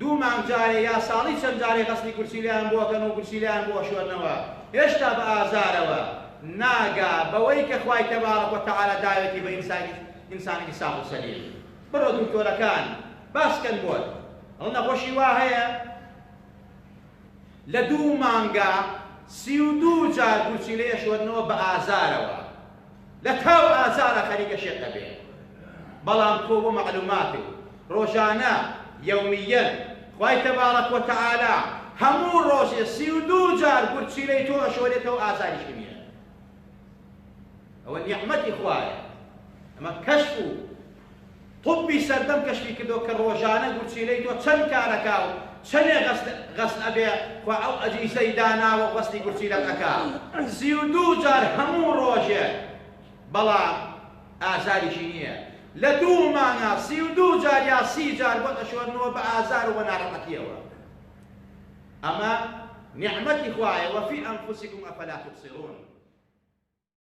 دوو مانگ جارێ یا ساڵی چەند جارێ غەسلی گورچیلەیان بۆ ئەکەن و گورچیلەیان بۆ ئەشۆرنەوە هێشتا بە ئازارەوە ناگا بەوەی کە خوای تبارک و تعالی داوێتی بە ئینسانی ئینسانێکی ساغ و سەلیم بڕۆ دکتۆرەکان باس کەن بۆت هەڵ نەخۆشی وا هەیە لە دوو مانگا سی و دوو جار گورچیلە ئەشۆرنەوە بە ئازارەوە لە تاو ئازارا خەریکە شێت ئەبێ بەڵام تۆ بۆ مەعلوماتت ڕۆژانە یەومییەن خوای تەبارەک و تەعالا هەموو ڕۆژێ سی و دوو جار گورچیلەی تۆ ئەشۆرێتەوە ئازاریشی نییە ئەوە نیعمەتی خوایە ئەمە کەشف و طوبی سەردەم کەشفی کردوە کە ڕۆژانە گورچیلەی تۆ چەند کار ئەکا و چەنێ غەسل غەسل ئەبێ کوا ئەو ئەجیزەی داناوە و غەسلی گورچیلەت ئەکا سی و دوو جار هەموو ڕۆژێک بەڵام ئازاریشی نیە لە دوو مانگا سی و دوو جار یا سی جار بۆت ئەشۆرنەوە بە ئازار و بە نارەحەتیەوە ئەمە نیعمەتی خوایە وە فی ئەنفوسیکم ئەفەلا توبصرون.